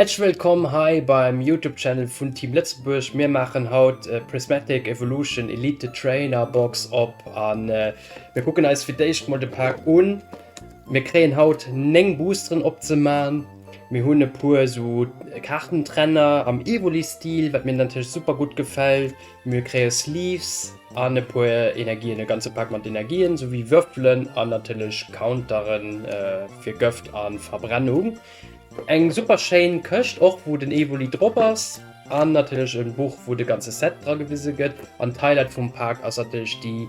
Häerzlech wëllkomm hei beim Youtube Channel vun Team Lëtzebuerg. Mir maachen haut Prismatic Evolution Elite Trainer Box op an mir kucken eis fir d'éischt mol de Paak un. Mir kréien haut 9 Boosteren opzemaachen. Mir hunn e puer esou Kaartentrenner am Evoli Stil, wat mir natierlech super gutt gefält. Mir kréie Sleeves an e puer Energien, e ganze Paak mat Energien, souwéi Würfelen an natierlech Counteren fir Gëft a Verbrennung. Eng super schéin Këscht och wou den Evoli drop ass an natierlech en Buch wou de ganze Set dra gewise gëtt an d'Highlight vum Pak ass natierlech déi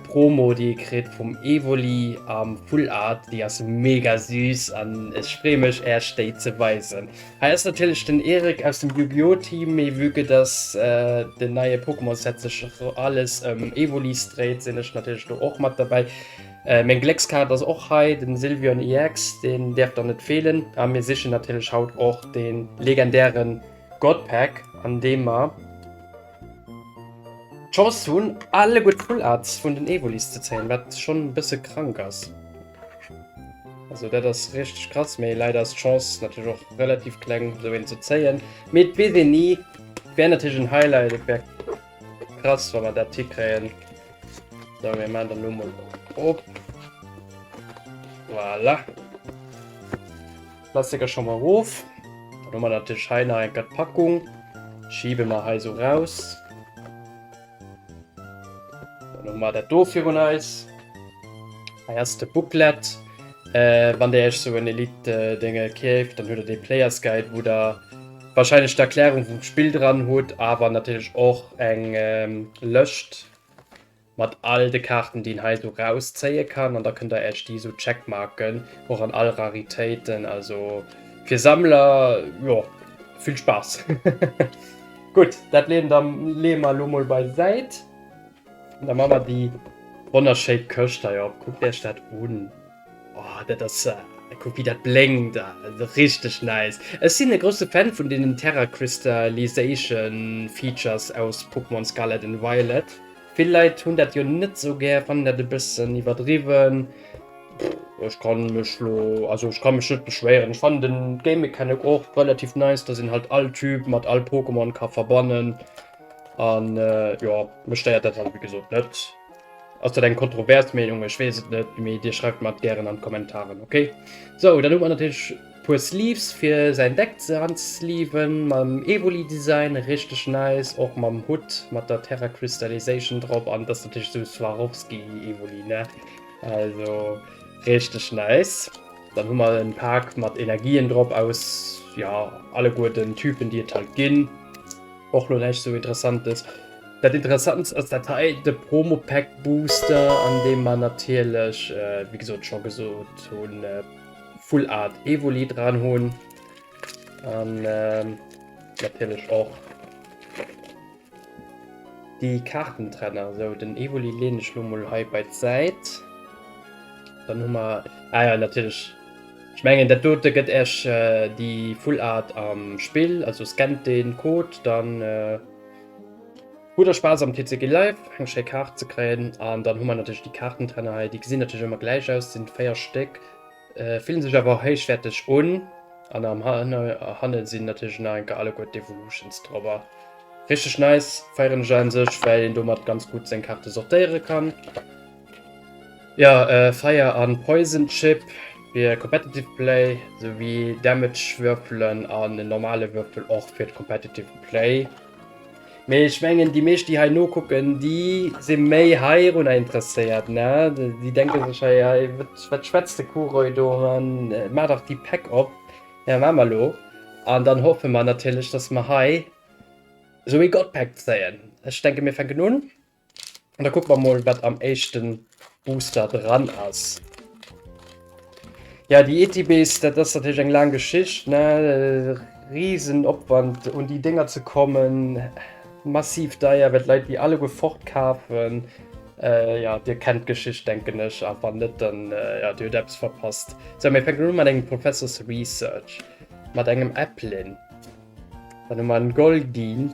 Promo déi ee kritt vum Evoli am Full Art, déi ass mega süß an ech free mech Äerch déi ze weisen. Hei ass natierlech den Eric aus dem Yu-Gi-Oh! Team, mee vue que dass den neie Pokémon Set sech alles ëm Evolis dréit sinn ech natierlech do och mat dobäi. Meng Gléckskaart ass och hei den Sylvion EX, deen däerf dann net feelen a mir sichen natierlech haut och den legendären God Pack an deem mer d'Chance hunn alleguer d'Full Arts vun den Evolis ze zéien, wat schonn e bësse krank ass. Also dat ass richteg krass, mee leider ass d'Chance natierlech och relativ kleng esou een ze zéien. Mee et weess een ni, et wär natierlech en Highlight, et wär. Krass, wann wir dat hikréien. So, wir machen dann nur mal op. Voilà. Klassiker schon mal rauf. Dann haben wir natürlich hier noch eine Packung. Schieben wir hier so raus. Dann haben wir das hier für uns. Hier ah ist der Booklet. Äh, wann der euch so ein Elite-Dinge äh, käft, dann habt ihr den Players Guide, wo der Wahrscheinlech d'Erklärung vum Spill dran, hutt awer natierlech och eng Lëscht mat all de Kaarten déi een hei esou raus zéie kann, an da kënnt der Äech déi esou checkmarken, och an all Raritéiten, also fir Sammler jo vill Spaass. Gutt, dat leeën da leeë mer elo mol bei Säit. Da machen wir die wunderschöne Küste hier auf. Guckt euch das an. Oh, das ist... Äh, guck, wie das blinkt. Das also ist richtig nice. Ich bin ein großer Fan von den Terra Crystallization Features aus Pokémon Scarlet und Violet. Viele Leute haben das ja nicht so gern, fanden das ein bisschen übertrieben. Ich kann mich lo, also ich kann mich nicht beschweren. Ich fand den Game Mechanic auch relativ nice, dass ihn halt all Typ mit all Pokémon kann verbannen. An äh, jo, mech stéiert dat halt wéi gesot net. Ass dat eng kontrovers Meenung? Ech weess et net, mee dir schreift mer et gären an d'Kommentaren, okay? Sou, dann hu mer natierlech e puer Sleeves fir säin Deck ze unsleeven, mam Evoli-Design, richteg nice, och mam Hutt mat der Terra Crystallization drop, an dat ass natierlech esou Swarovski-Evoli, ne? Also richteg nice. Dann hu mer e Pak mat Energien drop aus, jo, alleguer den Typen, déi et halt ginn. och lo näischt sou interessantes. Dat interessantst ass dat hei, de Promo Pack Booster an deem mer natierlech wéi gesot scho gesot hunn Full Art Evoli dran hunn an natierlech och déi Kaartentrenner. Sou den Evoli leen ech lo mol hei bei d'Säit, dann hu mer, ah jo natierlech. Ech mengen dat dote gëtt Äech déi full Art am Spill, also scannt den Code dann hutt der Spaass am TCG Live eng schéi Kaart ze kréien. An dann hu mer natierlech déi Kaartentänner hei, déi gesinn natierlech ëmmer gläich aus, sinn 4 Stéck, fillen sech awer héichwäerteg un an am hanne sinn natierlech nach eng Kéier alleguer d'Evolutions drop. Richteg nice, feieren ech a sech well een domat ganz gutt seng Kaarte sortéiere kann. Jo, Fire an Poison Chip fir Competitive Play, sou wéi Damage Würfelen an en normale Würfel och fir Competitive Play. Mee ech mengen déi meescht déi hei nokucken, déi si méi heirunner interesséiert, ne? Déi denke sech hei, hei wat schwätzt de Kuroi do, maach dach déi Pack op, jo maache mer elo. An dann hoffe mer natierlech, datt mer hei esou ee Gottpack zéien. Ech denke mir fänken un. An da kucke mer mol, wat am éischte Booster dran ass. Ja, déi ETBs, dat ass natierlech eng laang Geschicht, ne? Risen Opwand, un déi Dénger ze kommen, massiv deier, well d'Leit déi alleguer fortkafen. Jo, Dir kennt d'Geschicht, denken ech, a wann net, dann jo, Dir hutt eppes verpasst. Sou, mir fänken un mat engem Professors Research, mat engem Applin. Dann hu mer en Goldeen,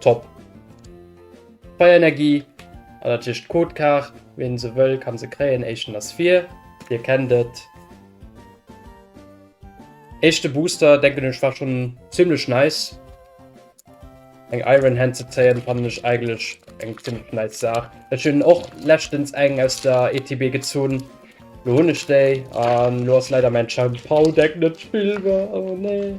Top! Feierenergie an dat heescht d'Codekaart. Ween se wëll kann se kréien. Éischten ass vir, dir kennt et. Éischte Booster denken ech war schon ziemlech nice. Eng Iron Hand ze zéien fannen ech eigentlech eng ziemlech nice Saach. Ech hunn och leschtens eng aus der ETB gezunn, lo hunn ech déi an lo ass leider mäin Chien-Pao Deck net spillbar, oh nee.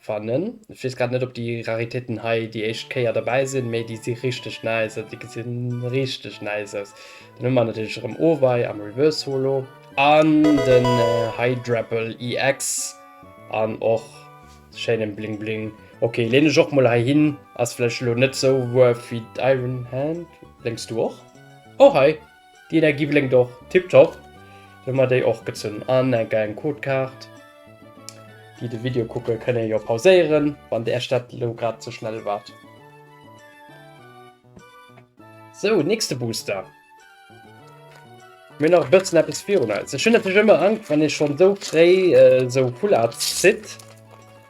Fannen. Ech wees grad net op déi Raritéiten hei déi éischt Kéier derbäi sinn, mee déi si richteg nice, also déi gesinn richteg nice aus. Dann hunn mer natierlech erëm Owei am Reverse Holo an den Hydrapple EX an och schéinen Bling Bling. Ok, leen ech och mol hei hin, ass vläicht elo net sou wuerf wéi d'Iron Hand. Lénks du och? Oh hei! Déi Energie blénkt och tiptop, do hu mer déi och gezunn an eng kleng Codekaart. Déi de Video kucken, kënne jo pauséieren, wann Äech dat elo grad ze schnell war. Sou, nächste Booster. Mir hunn nach e bëssen eppes virun eis. Ech hunn natierlech ëmmer Angscht, wann ee schonn esou fréi esou Full Art zitt.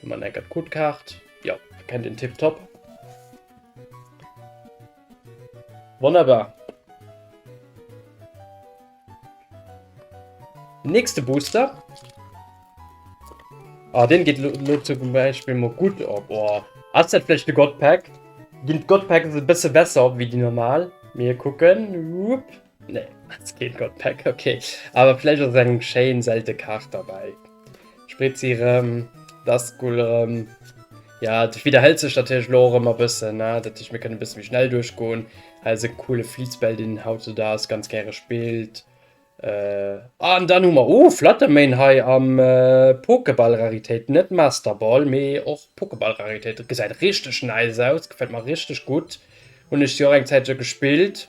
Du man eckert gut Kaart. Ja, kennt den Tipp top. Wunderbar. Nächste Booster. Ah, den geht nur zum Beispiel mal gut ab. Oh. Hast du vielleicht eine Godpack? Gehen Godpack ein bisschen besser wie die normal. Wir gucken. Upp. Nee, als Kid Got Pack, okay. Aber vielleicht aus einem Chain selten Kach dabei. Spritz sie rum, das cool rum. Ja, das wiederhält sich natürlich noch immer ein bisschen, ne? dass ich mir ein bisschen schnell durchgehen. Also ein cooler Fließball, den haut so da ist, ganz gerne spielt. Äh, ah, und dann haben wir, oh, Fluttermain hier am äh, Pokéball-Rarität, nicht Masterball, mehr auch Pokéball-Rarität. Das sieht richtig nice aus, gefällt mir richtig gut. Und ich sie auch eine Zeit schon gespielt.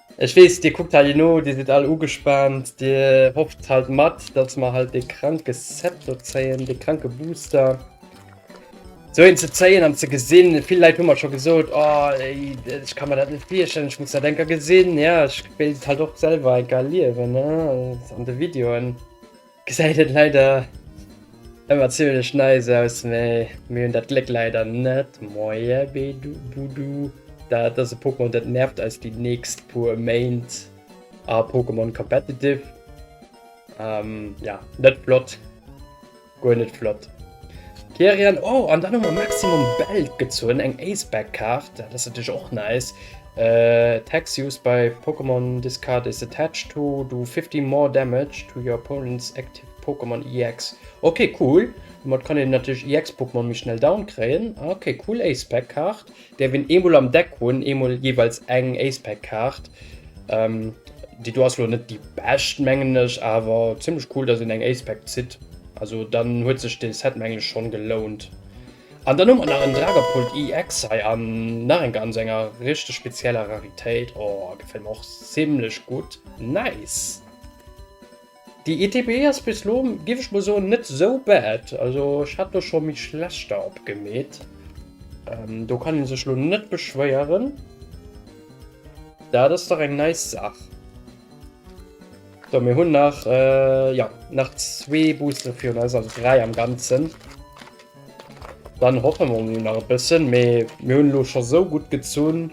Ech weess, Dir kuckt hei no, Dir sidd all ugespaant, Dir hofft halt mat, dass mer halt dee kranke Set do zéien, dee kranke Booster. Esou een ze zéien an ze gesinn, vill Leit hu mer scho gesot, Oh, ech ka mer dat net virstellen, ech muss dat enker gesinn. Jo, ech wéilt et halt och selwer enker erliewen an de Videoen. Gesäit et leider ëmmer ziemlech nice aus, mee mir hunn dat Gléck leider net. Moie Bedubudu, dat ass e Pokémon dat nervt eis déi nächst puer Méint a Pokémon Competitive. Ähm, ja, net flott, guer net flott. Therian, oh, an dann hu mer Maximum Belt gezunn, eng Ace-Back-Kaart, dat ass natierlech och nice. Attacks used by Pokémon this card is attached to do 50 more damage to your opponent's active Pokémon EX. Ok cool, domat kann een natierlech EX Pokémon méi schnell down kréien. Ok cool Ace Pack Kaart, däerf een eemol am Deck hunn, eemol jeeweils eng Ace Pack Kaart. Déi do ass lo net déi bescht mengen ech, awer zimmlech cool dass een eng Ace Pack zitt, also dann huet sech de Set mengen ech schonn gelount. An dann hu mer nach en Dragapult EX hei an nach eng ganz enger richteg spezieller Raritéit. Oh, gefällt mer och zimlech gutt. Nice! Déi ETB ass bis elo, giff ech mol soen, net sou bad. Also ech hat do scho méi schlechter op gemeet. Do kann een sech elo net beschwéieren. Dat ass dach eng nice Saach. So, mir hunn nach, jo, nach zwee Booster virun eis, also dräi am Ganzen. Dann hoffen mer mol nach e bëssen, mee mir hunn elo scho sou gutt gezunn,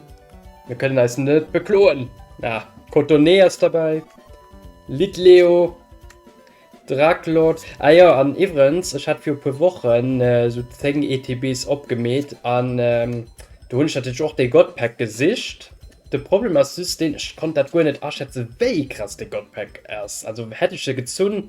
mir kënnen eis net bekloen. Ah, Cotone ass derbäi, Litleo, Draklot. Ah jo, an iwwerens, ech hat viru puer Wochen sou 10 ETBs opgemeet an do hunn ech natierlech och dee Godpack gesicht. De Problem ass just deen, ech konnt dat guer net aschätze wéi krass dee Godpack ass. Also hätt ech se gezunn,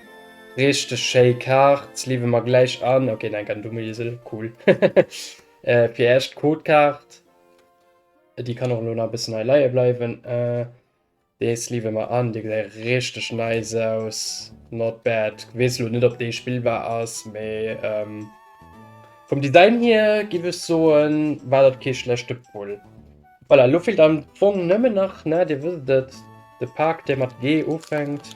Richteg schéi Kaart, leaven mer gläich an. Ok neng kann dumme Isel, cool. Fir eischt Code Kaart, déi kann och lo nach e bëssen hei leie bleiwen. Dees leaven mer an, dee gesäit richteg nice aus, not bad. Weess lo net op dee spillbar ass, mee vum Design hier giff ech soen war dat kee schlechte Pull. Voilà, lo feelt am Fong nëmmen nach, na dir wësst et, de Pak dee mat G ufänkt.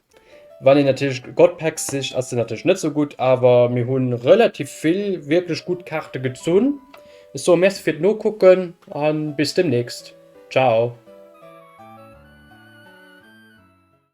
Wann een natierlech God Packs sicht ass den natierlech net sou gutt, awer mir hu relativ vill wierklech gutt Kaarte gezunn. Ech soe Merci fir d'Nokucken an bis demnächst. Ciao.